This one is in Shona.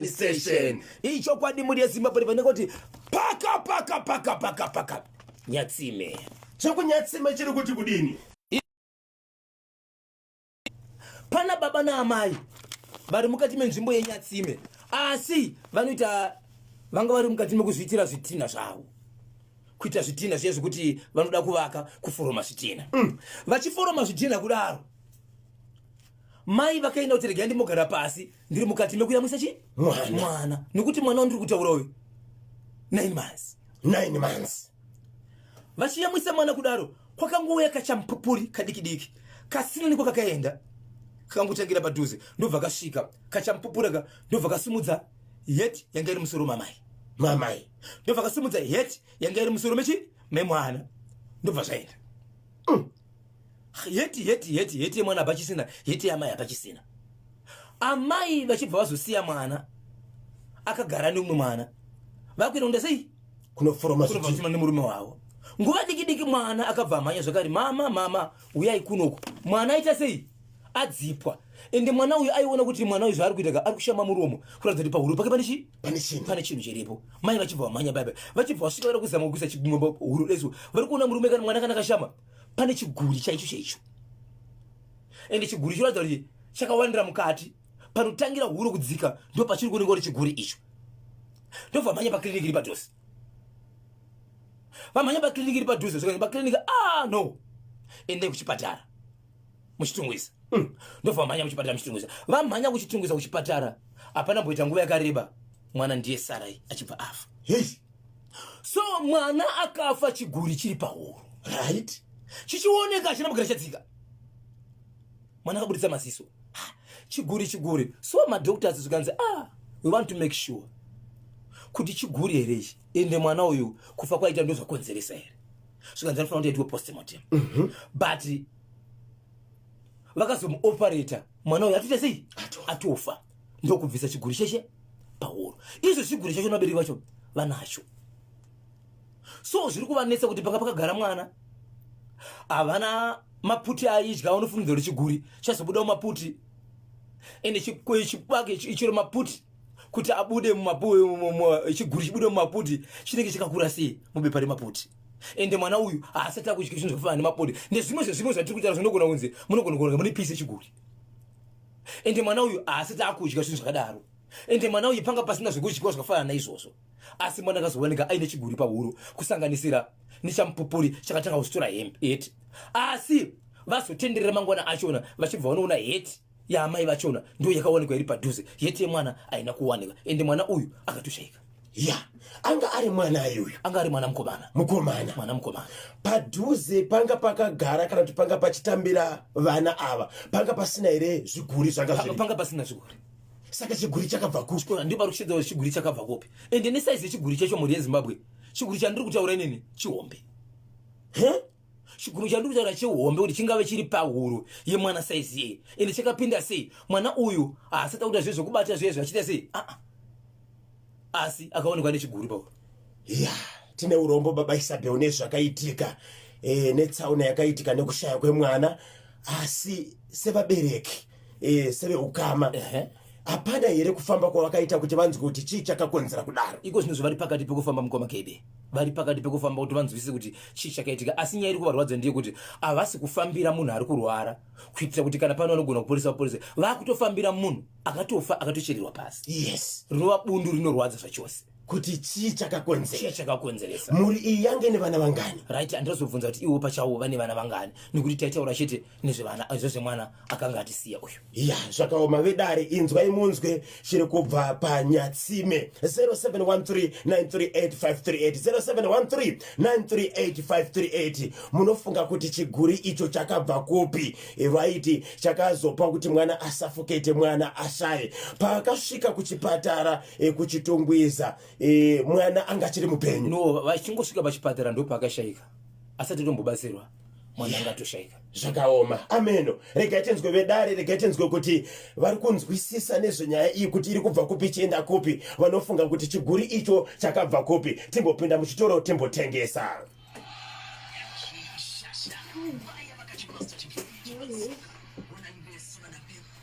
station iyi chokwadi muri yezimbabwe vanenge kuti paka paka paka paka paka nyatsime chekunyatsime chiri kuti kudini pana baba naamai vari mukati menzvimbo yenyatsime asi vanoita vanga vari mukati mekuzviitira zvitinha zvavo kuita zvitinha zviye zvekuti vanoda kuvaka kuforoma zvitinha mm. vachiforoma zvitinha kudaro mai vakaenda kuti regai ndimogara pasi ndiri mukati mekuyamwisa chi mwana nokuti mwana wandiri kutaura uyu nine months nine months vachiyamwisa mwana kudaro kwakangouya kachampupuri kadikidiki kasina niko kakaenda kakangotangira padhuze ndobva kasvika kachampupura ka ndobva kasimudza het yanga iri musoro mamai mamai ndobva kasimudza het yanga iri musoro mechi memwana ndobva zvaenda mm. heti heti heti heti yemwana apachisina heti yamai apachisina amai vachibva vazosiya mwana akagara neumwe mwana vakuenda kunda sei kunoforomaaima nemurume wavo nguva diki diki mwana akabva amhanya zvakari mama mama uyai kunoku mwana aita sei adzipwa ende mwana uyu aiona kuti mwana uyu zvaari kuita ka ari kushama muromo kuratidza kuti pahuro pake pane chii pane chinhu pane chinhu chiripo mai vachibva vamhanya baba vachibva vasvika vari kuzama kuisa chigumba huru resu vari kuona murume kana mwana kana kashama pane chiguri chaicho chaicho ende chiguri chinoratidza kuti chakawandira mukati panotangira huro kudzika ndo pachiri kuoneka kuti chiguri icho ndobva vamhanya pakiriniki iri padhuze vamhanya pakiriniki iri padhuze zvikanzi pakiriniki a ah, no endai kuchipatara muchitungwiza mm. ndobva vamhanya kuchipatara muchitungwiza vamhanya kuchitungwiza kuchipatara hapana mboita nguva yakareba mwana ndiye sarai achibva afa hey. so mwana akafa chiguri chiri pahoro right chichioneka achina mugara chadzika mwana akaburitsa maziso chiguri chiguri so madoctors zvikanzi ah we want to make sure kuti chiguri here ichi ende mwana uyu kufa kwaita ndozvakonzeresa here zvikanzi anofanira kuti aitwe postmortem mm -hmm. but vakazomuoperator mwana uyo atoita sei atofa ndokubvisa chiguri cheshe pahoro izvo chiguri chacho nabereki vacho vanacho so zviri kuvanetsa kuti panga pakagara mwana havana maputi aidya vanofunidza kuti chiguri chazobudawo maputi ende chibake ichiro maputi kuti abude chiguri chibude mumaputi chinenge chakakura sei mubepa remaputi ende mwana uyu haasati akudya zvinhu zvakafanana nemapode ndezvimwe zvezvimwe zvatiri kutaura zvinogona kunzi munogona kuona mune pisi chiguri ende mwana uyu haasati akudya zvinhu zvakadaro ende mwana uyu panga pasina zvekudyiwa zvakafanana naizvozvo asi mwana akazowanika aine chiguri pahuro kusanganisira nechamupupuri chakatanga kusitora hembe heti asi vazotenderera mangwana achona vachibva vanoona heti yaamai vachona ndo yakawanikwa iri padhuze yete yemwana haina kuwanika ende mwana uyu akatoshaika ya anga ari mwana ayuyu anga ari mwana mukomana mukomana mwana mukomana padhuze panga pakagara kana kuti panga pachitambira vana ava panga pasina here zviguri zvangapanga pasina zviguri saka chiguri chakabva kuchikora ndiba ruchidzao chiguri chakabva kupi ende nesaizi yechiguri chacho mhuri yezimbabwe chiguri chandiri kutaura inini chihombe huh? chiguru chandiri kutaura chihombe kuti chingave chiri pahuro yemwana saizi yeye ende chakapinda sei mwana uyu haasati akuita zviye zvekubata zviye zvachiita sei aa ah, ah. asi akaonekwa nechiguru pahuro ya tine urombo baba isabel nezvakaitika e, netsaona yakaitika nekushaya kwemwana asi sevabereki eh, seveukama hapana here kufamba kwavakaita kuti vanzwe kuti chii chakakonzera kudaro iko zvino zvavari pakati pekufamba mukoma kede vari pakati pekufamba kuti vanzwisise kuti chii chakaitika asi nyaya iri kuvarwadza ndiye kuti havasi kufambira munhu ari kurwara kuitira kuti kana pano vanogona kuporesa vaporese vakutofambira munhu akatofa akatochererwa pasi yes rinova bundu rinorwadza zvachose kuti chii chakakonzera chakakonzeresa mhuri iyi yange nevana vangani right andazobvunza kuti iwo pachawo vane vana vangani nekuti taitaura chete nezvevana izvo zvemwana akanga atisiya uyu ya zvakaoma vedare inzwai munzwe chiri kubva panyatsime 0713938538 0713938538 munofunga kuti chiguri icho chakabva kupi vaiti chakazopa kuti mwana asafukete mwana ashaye paakasvika kuchipatara e, kuchitongweza e, mwana anga achiri mupenyu no vachingosvika pachipatara ndopaakashaika asati tombobatsirwa mwana anga atoshaika zvakaoma ameno regai tinzwe vedare regai tinzwe kuti vari kunzwisisa nezvenyaya iyi kuti iri kubva kupi ichienda kupi vanofunga kuti chiguri icho chakabva kupi timbopinda muchitoro timbotengesa